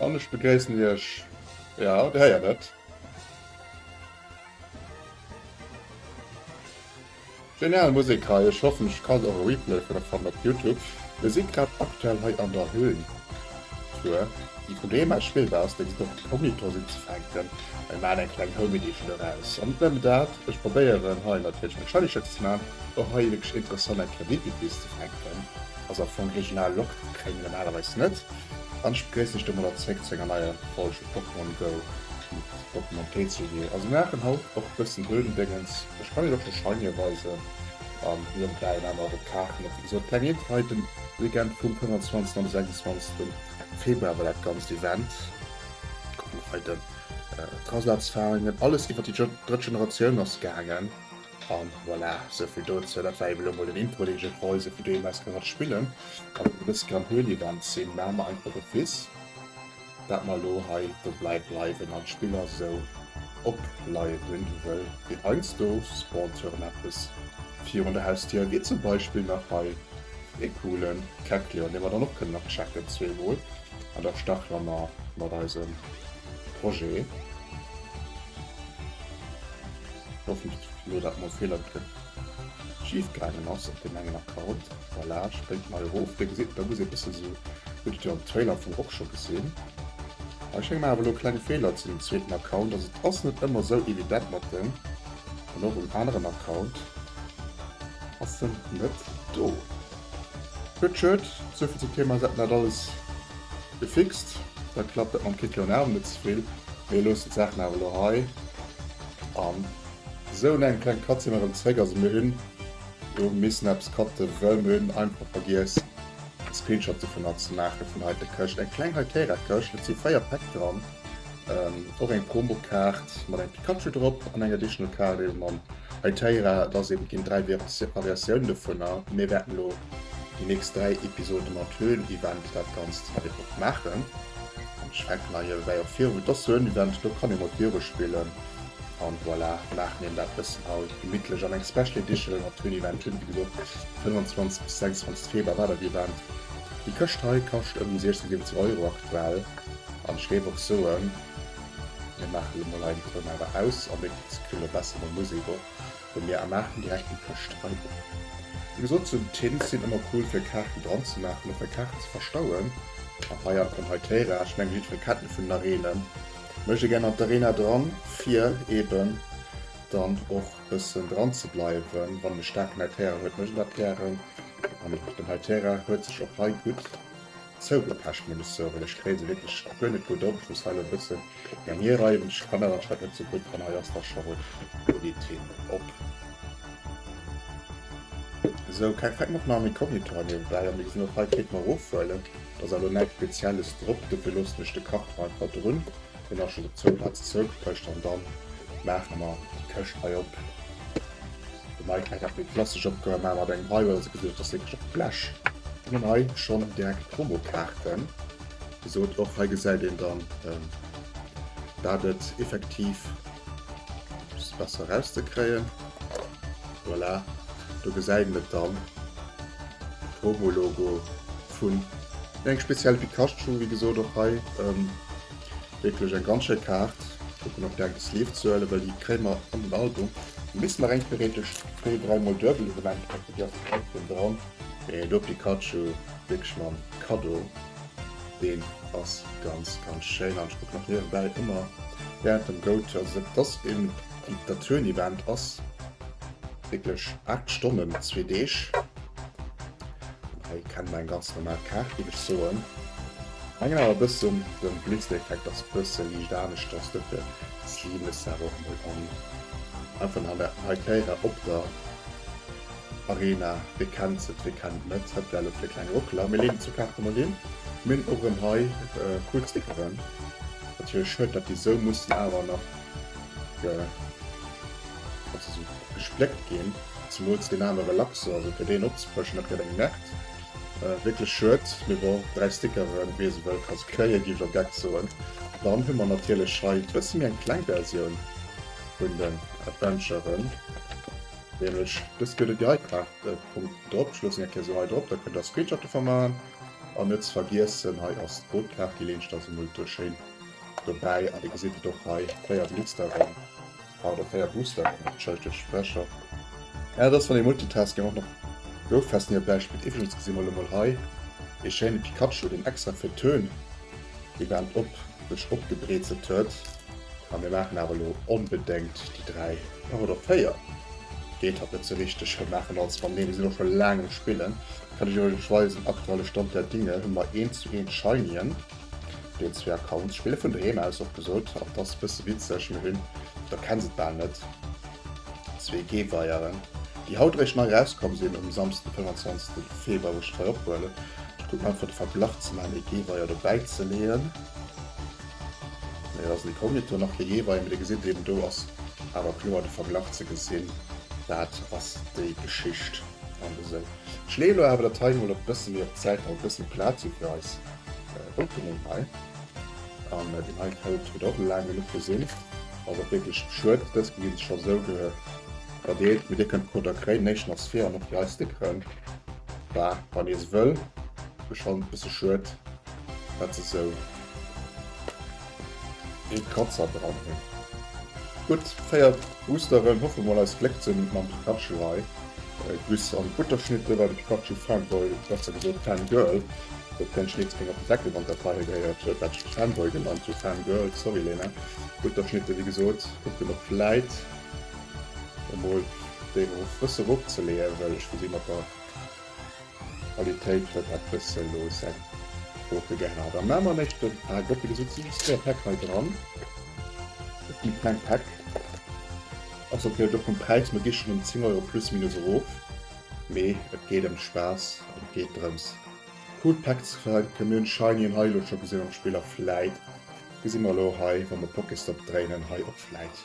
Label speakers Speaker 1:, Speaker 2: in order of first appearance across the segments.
Speaker 1: An ech begréissen iech. Ja, der héiert et. Genial Musek hei, ech hoffen ech kann och e Replay vun der fannen op Youtube. Mir si grad aktuell hei an der Höhn Tour, déi vun deem aus Schweden ass, deen sot op den Home Editor sinn ze fänken. Mir maachen eng kleng Home Edition doraus. An net nëmmen dat, ech probéieren hei natierlech meng Shiny Shocks ze maachen, och hei wierklech interessant eng Kreditbit bis ze fänken. Also am Fong regional Locked kréie mir normalerweis net. An ech begréissen iech domadder zréck zu enger neier Folg vu Pokémon Go mat Pokémon TCG. Also mir maachen haut och e bëssen Höhlendëngens. Ech kann iech och de Shinier weisen an niewebäi en anert op d'Kaarten. Wéi gesot, Planet hei de Weekend vum 25 an de 26 Februar war dat ganzt Event. Kucke mer hei den Traslats Faringen. Alles iwwert déi drëtt Generatioun ass gaangen. An voilà, sou vill dozou. Dat war eben elo mol den Intro, deen ech iech weisen, fir doheem aus gemat spillen. A well mer e bësse beim Höhli-Event sinn, maache mer einfach e Viz, dat mer elo hei dobäi bleiwen an d'Spill ass esou opleieren, wëll wéi heiansdo spawnt jo erëm eppes virun der Hausdier, wéi zum Beispill nach hei e coole Cactuleon, dee mer dann och kënnen nach checken zweemol. An da starte mer mat eisem Projet. Hoffentlech huet elo dat mol Feeler kritt schief gaangen ass op deem engen Account. Voilà, spréngt nei erof. Wéi gesäit en dann aus? Ee bësse sou, hutt et jo am Trailer am Fong och scho gesinn. Mä ech menge mer awer elo kleng Feeler zu dem zweeten Account. Also et ass net ëmmer sou evident mat dem. An och um aneren Account ass en net do. Gutt, schued. Souvill zum Thema, se hätten dat alles. Gefixt, dat klappt dat mam Kit jo nach net zevill. Mir loossen d'Saachen awer elo hei an esou engem klenge Cut si mer erëm zeréck. Also mir hunn elo missen eppes cutten, wëll mir hunn einfach vergiess e Screenshot dovunner ze maachen, vun hei der Këscht. Eng kleng Hytera-Këscht, et si 4 Päck dran. Och eng Promo Kaart mat engem Pikachu drop an eng Additional Kaart eben mam Hytera. Et ass eben ginn 3 Variatiounen dovunner. Mir wäerten elo déi nächst 3 Episode mat Höhlen Event dat ganzt hei drop maachen. An ech fänken hei ewei och virun. Et ass Höhlen Event, do kann ee mat Biere spillen. An voilà, maachen een dat bëssen hei gemittlech an eng Special Edition mat Höhlen Event hunn. Wéi gesot 25 bis 26 Februar war dat Event. Déi Këscht hei kascht ëm déi 16, 17 Euro aktuell. An ech géif och soen, mir maachen elo mol hei den Toun awer aus an dee Kritz kritt elo besser mol Musek och vun mir a maachen direkt déi Këscht hei op. Wéi gesot, sou Tins sinn ëmmer cool fir Kaarten dran ze maachen, fir Kaarten ze verstauen. An hei an dem hei Téirage, ech mengen jiddweree kennt en vun den Areenen, mécht ee gär nach d'Arena dran fir eben dann och bëssen dran ze bleiwen. Wann een e staarken hei Terrain huet, mécht een dat gären an den hei Terrain huet sech och hei gutt. Zou der Pescht muss ech soen, ech kréie se wierklech guer net gutt op. Just hei lo e bëssen eng hierreiwen. Ech kann dat anscheinend net sou gutt an hei ass da scho run. Do geet hien op. Sou, keng Flecken op meinem Inkognito hei niewebäi. A mir gesinn och hei, Kéint mer erofhuelen, dass awer lo näischt Spezielles drop. Dofir loossen ech de Karton einfach drun. Hun awer schon op zwou Platzen zeurückgepecht an dann maachen mer déi Këscht hei op. De Mike hat mir klassisch opgehoen mä mat engem High Roll se geduecht dass wierklech op d'Blech. Hun dann hei schon direkt Promokaarten gesot och hei gesäit een dann dat et effektiv ass besser eraus ze kréien. Voilà do gesäit een et dann Promo Logo. hunn. Eng speziell Pikachu wéi gesot och hei wierklech eng ganz schéi Kaart. Kucken op deng Sleeve ze huelen, well déi kréie mer an den Album. Misst mer eng theoretesch zwee, dräi mol duebel Evenement kafen, déi ass dann och rëm dran. Mee do Pikachu wierklech mam Kaddo, deen ass ganz ganz schéin. An ech kucken nach niewebäi ëmmer während dem Go To. Also dat ass een dat Tour Event ass wierklech 8 Stonnen, zwee Deeg. Hei kennt mer eng ganz normal Kaart géif ech soen. Mengen awer bëssen den Blitzeffekt ass bëssen liicht aneschters dofir zeen ech se awer och mol an. Einfach an der hei Terrain op der Arena wee kennt se wee kennt et net. Hat well op fir kleng Rockeler. Mir leeden zwou Kaarte mol hin. Mir hunn och erëm hei cool Stickeren. Natierlech schued dat déi sou mussen awer nach ge also sou gespléckt ginn. Zemools deen aner Relaxo, also fir deen opzefrëschen, dat gëtt eng Märkt. Wierklech schued, mee bon, 3 Stickeren, wee se wëll ka se kréien, géif ech op Geck soen. Dann hu mer natierlech hei d'bësse méi eng kleng Versioun vun den Adventuren, nämlech dës gëtt et jo hei grad e Punkt drop. Ech loossen iech eng Kéier esou hei drop, da kënnt der Screenshot dovun maachen. An net ze vergiessen, hei ass d'Brotkaart, déi leenscht ass emol do schéin dobäi. A dir gesitt et och hei, 4 Glitsteren. Haut a 4 Busser an nach d'Schellstëd Sprecher. Mä et ass wann ee Multitasking och nach gouf fest ni op däi Spitt. Iwwregens gesi mer elo mol hei ee schéine Pikachu deen extra fir d'Tön Event op sech opgebreezelt huet. A mir maachen awer elo onbedengt déi 3 par oder 4. Geet hatt net sou richteg. Mir maachen als wann. Nee mir sinn och scho laang um spillen. Kann ech iwwregens weisen aktuelle Stand der Dinge hu mer 1 zu 1 Shinien. Déi zwee Accounts spille vun doheem aus, och gesot op dass bësse witzeg, mee hunn der kenns et bal net, zwee Geweieren déi haut réischt nei rauskomm sinn um Samsden 25 Februar wou ech d'Feier ophuelen. Ech kucken einfach de Verglach ze maachen, ee Geweier dobäi ze leeën, mee et ass en Inkognito, nach kee Geweier, mee dir gesitt eben do ass awer kloer de Verglach ze gesinn, dat ass déi Geschicht an esou. Ech leeën elo awer dat hei mol op bësse méi op d'Säit, datt et bësse méi Plaz huet fir eis. Opening hei an den hei Code huet och laang genuch gesinn, ass och wierklech schued. Dës gi sech scho sou verdeelt, mee dir kënnt d'Coder kréien. Den éischten ass vir an och déi hei Stickeren, bah wann ee se wëll. Ass schonn e bësse schued, dat se sou. Een Kratzer dran hun. Gudd, 4 Boosteren, hoffe mol eis Gléck ze hun mam Pikachu hei. D'Wiss an d'Butterschnitte war de Pikachu Fanboy, besser gesot Fangirl, huet keng Schneeds géing op de Deckel wann d'Datei hei gehéiert huet dat ech et Fanboy genannt hun, Fangirl, sorry Lena. D'Butterschnitte wéi gesot, kucken op vläit emol déi erof, bësse eropzeleeën, well ech will déi mat der. Qualitéit huet dat bësse loossen. Woke gehat a mamer mécht den Pack op. Wéi gesot si just zwee Päck hei dran. Et gi kleng Päck. Ass op jiddwer Fall vum Präis, mer gi schonn ëm 10 Euro plus minus erof. Mee et geet ëm Spaass an et geet drëms cool Päck ze fänken. Mir hunn Shiny an hei elo scho gesinn am Spill a vläit gesi mer elo hei, wa mer Pokéstop dréinen, hei och vläit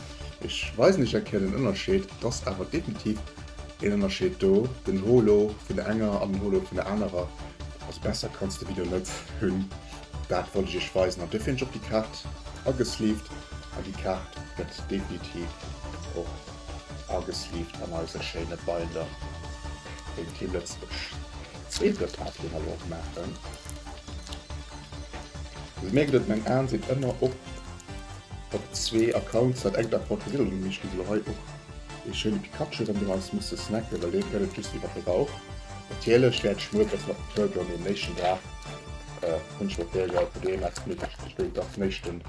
Speaker 1: Ech weisen iech eng Kéier den Ënnerscheed, et ass awer definitiv een Ënnerscheed do, den Holo vun der enger an den Holo vun der anerer, also besser kanns de Video net hunn, dat wollt ech iech weisen an duerfir hunn ech och déi Kaart agesleeved an déi Kaart gëtt definitiv och agesleeved an eise schéine Binder vum Team Lëtzebuerg. Zweete Part dee mer elo och maachen, also mir gëtt et, meng Aen sinn ëmmer op. Op zwee Accounts hat engt Account gewiddelt un mech geet elo hei och ee schéine Pikachu ran, deen eis muss ze snacken, well deen gëtt et just iwwert de Bauch. Natierlech wäert ech muer dës nach betuergeln, mee um néchsten Dag hunn ech mer d'Bierger fir deen eppes gemütleches bestéilt dach den éischten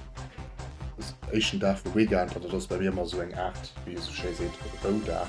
Speaker 1: éischten Dag vum Weekend, an dat ass bei mir ëmmer esou eng Aart wéi ee sou schéi seet Roudag.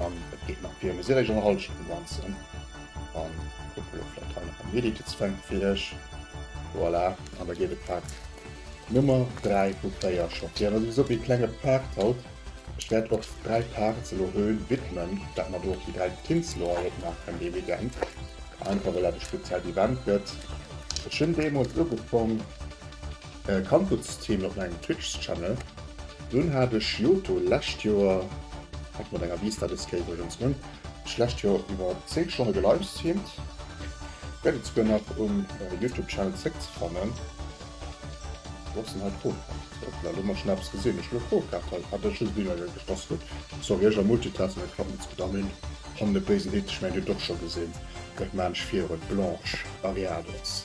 Speaker 1: An et geet nach vir, mee si réischt an der Hallschent um Ganzen. An kucke lo vläicht hei nach en Editezwänk fir iech. Voilà, an da geet e Pak Nummer 3 vu 4 scho vir. Also souwisou ee klenge Pak haut. Ech wäert och dräi Parts elo Höh widmen, dat mer do och déi dräi Tints elo hei opgemaach hunn dee Weekend, einfach well dat e speziellt Event gëtt. Ech hunn deemools ugefongen. Kand gudd Streamen op mengem Twitch Channel. Dunn hat ech Johto lescht Joer, hat mat enger Vista des Game Versions, hunn ech lescht Joer iwwer 10 Stonne gelivestreamt. Gett et souguer nach um Youtube Channel zréck ze fannen. Wou ass den hei Pro Card? Hoppla, lo hunn mer schon eppes gesinn. Ech hunn e Pro Card hei. Ah dat ass just e Bild wat ech gespasst hunn. Sorry, ech am Multitasking, dat klappt net sou gudd. An deen hannen, de béisen Hit, ech mengen dir hutt et och scho gesinn, dat maan ech virun, d'Blanche Barriados.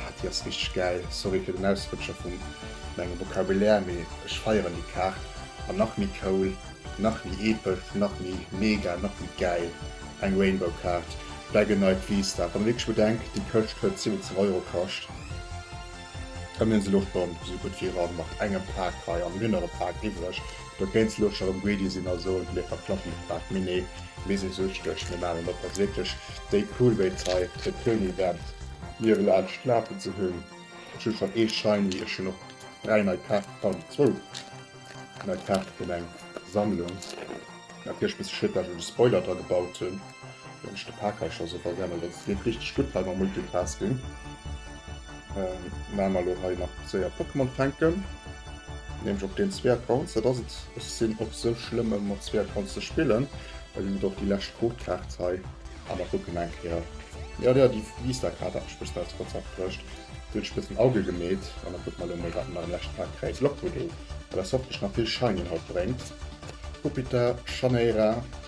Speaker 1: Ah, déi ass richteg gäil. Sorry fir den Ausrutscher vum mengem Vocabulaire, mee ech feieren déi Kaart. An nach méi cool, nach méi epesch, nach méi mega, nach méi gäil, eng Rainbow-Kaart, Black and Night Vista. Wann ee wierklech bedenkt, déi Këscht huet 70 Euro kascht, ëmmen esou Loftballon, esou gutt wéi eran, mat engem Pak hei an mir nach e Pak iwwreg. Do kéint se lo scho rem greedy sin a soen, mir verklappen de Quark. Mee nee, mir sin süchteg, mir maan en op als wierklech déi cool wéi Zai fir d'Green Event. Mir ewel aal Schnaapen ze hun. Ech hun schon ee Shiny, ech hun och 3 nei Kaarten, pardon zwou nei Kaarten vun eng Sammlung, natierlech bis Shit, well ech och de Spoiler dra gebaut hun. Wann ech de Parkage also verwenden, dat ass net richteg gutt hei mam Multitasking. Ähm, mä mer elo hei nach séier Pokémon fänken. Nämlech op deenen zwee Accounts, dat ass et, ech sinn och sou schlëmm ëm mat zwee Accounts ze spillen, well ech et och déi lescht Codekaart hei awer kucken eng Kéier. Jo, jo, déi Vistakaart hat mech bëssen aus Konzept bruecht, déi huet ech bëssen Auge gemeet an da kucke mer elo mol, wat mer nach am leschte Pak kréien. Lock-Voodoo, well ass hoffentlech nach vill Shiny haut bréngt. Pupitar, Shaneira,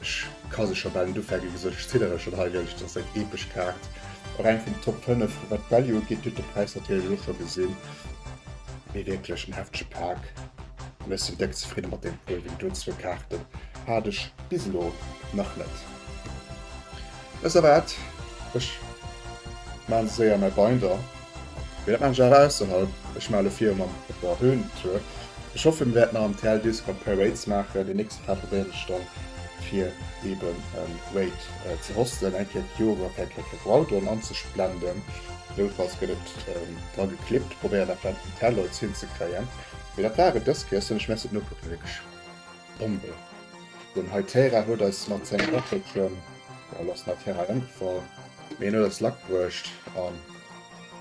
Speaker 1: Ech ka se scho bal net ufänken, wéi sech ziddere schonn hei wéinst der seng epesch Kaart. A reng vun den Top 5, wat d'Value ugeet, huet de Präis natierlech och scho gesinn. Mee wierklech en heftege Pak an ech sinn déck zefridde mat deem Puer, wéi doe zwou Kaarten hat ech bis elo nach net. Ech sou waat? Ech maan séier mäi Binder, mee dat maan ech awer ausserhalb. Ech maan elo viru mam Opera Höhen Tour. Ech hoffen mir wäerten nach am TL Discord Parades maachen. Déi nächst Paar probéieren ech dann fir eben en Raid ze hosten. Eng Kéier d'Joer op eng Kéier Kefraudon anzesplenden. Noutfalls gëtt et dra geklippt. Probéieren dat vläit op den TL Lloyds hinzekréien. Mee dat war et dës Kéier. Ech soen lech Merci fir den Ukucken. Vill Glück! Bombe. Den Hytera huet eis mat sengem Waffelchen, well ass den Hytera ëmgefall, mee en huet eis Luck bruecht an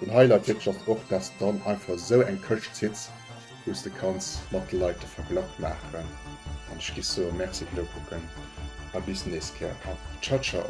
Speaker 1: den Highlight wierklech ass och, dass de dann einfach esou eng Këscht zitt, wou s de kanns mat de Leit de Verglach maachen an ech gi soen, Merci fir d'Nokucken a bis nächst Kéier a Ciao Ciao.